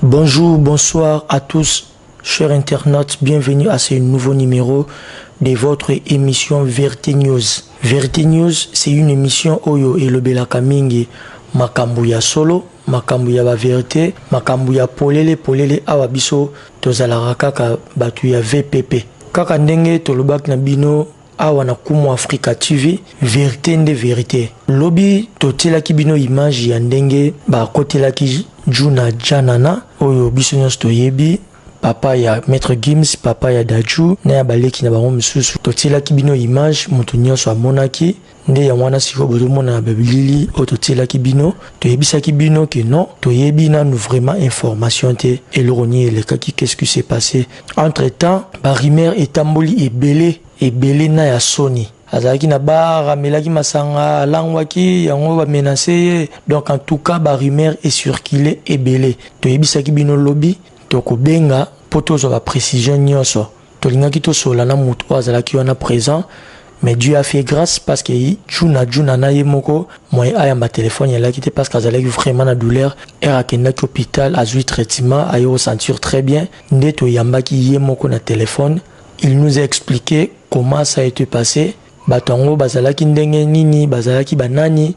Bonjour, bonsoir à tous, chers internautes, bienvenue à ce nouveau numéro de votre émission Verité News. Verité News, c'est une émission Oyo et Lobela Kamingi, Makambu ya solo, makambu ya ba verité, makambu ya polele polele awa biso tozalaka kaka batu ya VPP. Kaka ndenge tolobaki na bino awa na kumu africa tv verite nde verite lobi totielaki bino image ya ndenge bakotelaki juna janana oyo biso nyonso toyebi papa ya maître gims papa ya daju na ya baleki na bango mosusu totielaki bino image moto nyonso amonaki nde yango wana sikoyo bozomona babilili oyo totielaki bino toyebisaki bino ke non toyebi nanu vraiment information te eloko nini elekaki qu'est-ce qui se passe entre temps barumeur etamboli ebele ebele na ya soni azalaki na bar amelaki masanga alangwaki yango bamenase ye donc en tout cas barumeur ecircule ebele toyebisaki bino lobi tokobenga mpo tozwa baprécision nyonso Tolingaki tosolola na mutu oyo azalaki wana present mais Dieu a fait grace parce que Djuna Djuna na ye moko moyen ayamba telephone ya Laki te parce que azalaki vraiment na douleur heure akendaki hopital azui traitement aye ko sentir très bien nde toyambaki ye moko na telephone il nous a explique comment ça a été passé bato yango bazalaki ndenge nini bazalaki banani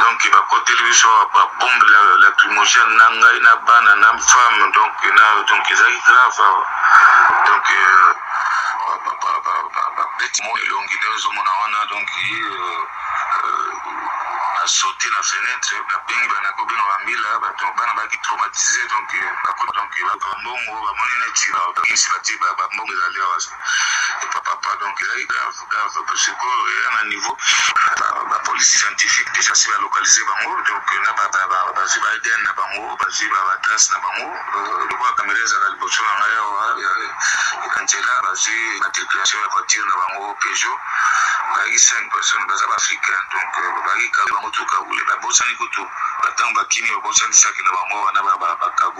donc ba koteli biso awa ba bombe lacrymogène na ngai na bana na femme donc na donc ezalaki grave awa donc euh, babeti mo elongi nde ozomona wana donc euh, euh, asauti na fenêtre babengi bana kobenga bambila bana baki traumatise donc bambongo bamoni neti bambongo ezali awa papa donc ezali grave Sikoyo eya na niveau ba police scientifique dejà si ba localise bango donc na ba bazwi ba ADN na bango bazwi ba ba trace na bango lokola kamera ezalaka liboso na ngai awa na nzela bazwi matriculation ya voiture na bango Peugeot bazalaki 5 personnes baza ba africain donc bazalaki kago bango tout kagoule babosani kutu batango bakimi babosanisaki na bango wana ba kago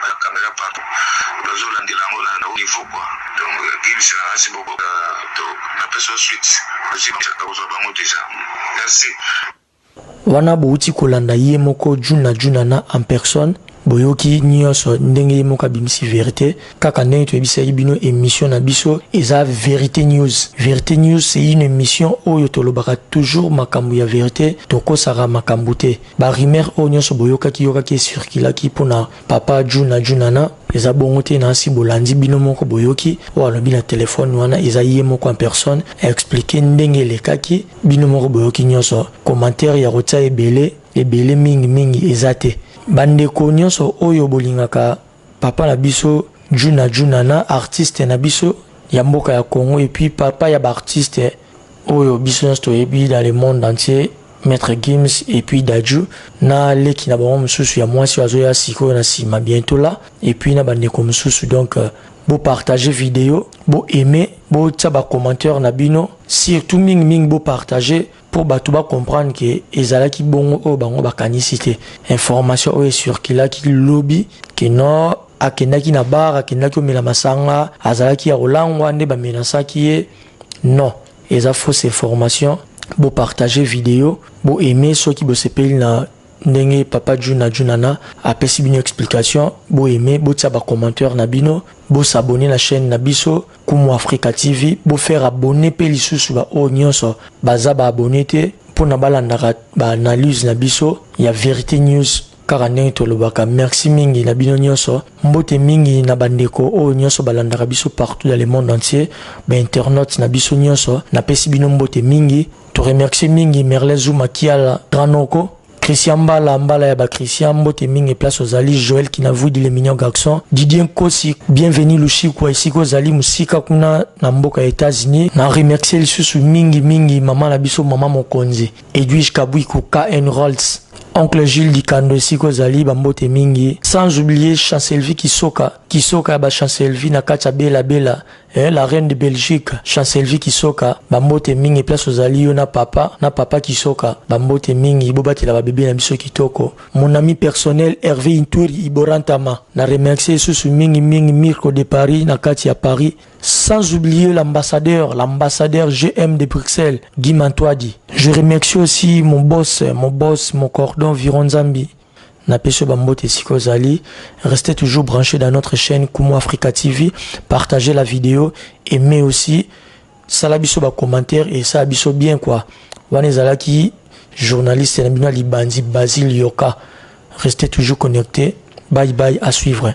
Ba camera pardon nazo landela yango na haut niveau quoi donc Gims na asi bobo to na pesa yo suite osi ba kozwa bango deja merci wana bowuti kolanda ye moko juna juna na en personne boyoki nyonso ndenge ye moko abimisi verite kaka ndenge toyebisaki bino émission na biso eza verite news verite news c'est une émission oyo tolobaka toujours makambo ya verite tokosaka makambo te Ba rumeurs oyo nionso boyokaki yokaki e circulaki pona papa Djuna Djunana eza bongo te nasi bolandi bino moko boyoki oyo alobi na telephone wana eza ye moko en personne a expliquer ndenge elekaki bino moko boyoki nionso commentaire ya kotia ebele ebele mingi mingi eza te bandeko nionso oyo bolingaka Papa na biso Djuna Djuna na artiste na biso ya mboka ya Congo et puis papa ya ba artiste oyo biso nyonso toyebi dans le monde entier Maître Gims et puis Dadju na leki na bango mosusu ya mwasi azoya sikoyo na nsima bientôt là et puis na bandeko mosusu donc euh, bo partager video bo aimer botia ba commentaire na bino surtout mingi mingi bo partager mpo bato ba comprendre ke ezalaki bongo oyo bango bakanisi te information oyo ecirculaki lobi ke nord akendaki na bar akendaki omela masanga azalaki ya kolangwa nde bamenasaki ye non eza fausse information bopartage video boaime soki bosepeli na ndenge papa juna junana apesi bino explication boaime botia bacommentaire na bino bosabone na chaîne na biso Kumu Africa TV bo faire abonner pe lisusu ba oyo nyonso baza ba abonner te pona balandaka ba analyse na biso ya Verite News kaka ndenge tolobaka merci mingi na bino nyonso mbote mingi na bandeko oyo nyonso balandaka biso partout dans le monde entier bainternaute na biso nyonso napesi bino mbote mingi toremercie mingi merle zuma kiala granoko Christian Mbala, Mbala ya ba Christian, mbote mingi place ozali, Joël Kinavudi le mignon garçon, Didier Nkosi, bienvenue Lushikwa, esika ozali musika kuna na mboka ya Etats-Unis. Na remercier lisusu mingi mingi mama na biso mama mokonzi, Edwige Kabuiku KN Rolls, oncle Jules Dikando esika ozali bambote mingi sans oublier Chancelvi Kisoka Kisoka ya ba Chancelvi na kati ya Bela Bela Eh la reine de Belgique, Chancelvie Kisoka, ba mbote mingi place ozali yo na papa, na papa Kisoka, ba mbote mingi, bobatela ba bebe na biso kitoko. Mon ami personnel Hervé Intweri Iborantama, na remercier susu mingi mingi Mirko de Paris na kati ya Paris, sans oublier l'ambassadeur, l'ambassadeur GM de Bruxelles, Guy Mantwadi. Je remercie aussi mon boss, mon boss, mon cordon Viron Zambi. Na pesi yo ba mbote esika ozali. Restez toujours branche dans notre chaine Kumu Africa TV. Partagez la video, aimez aussi. Sala biso ba commentaires et sala biso bien quoi. Wana ezalaki journaliste na bino libandi Basil Yoka. Restez toujours connectés. Bye bye à suivre.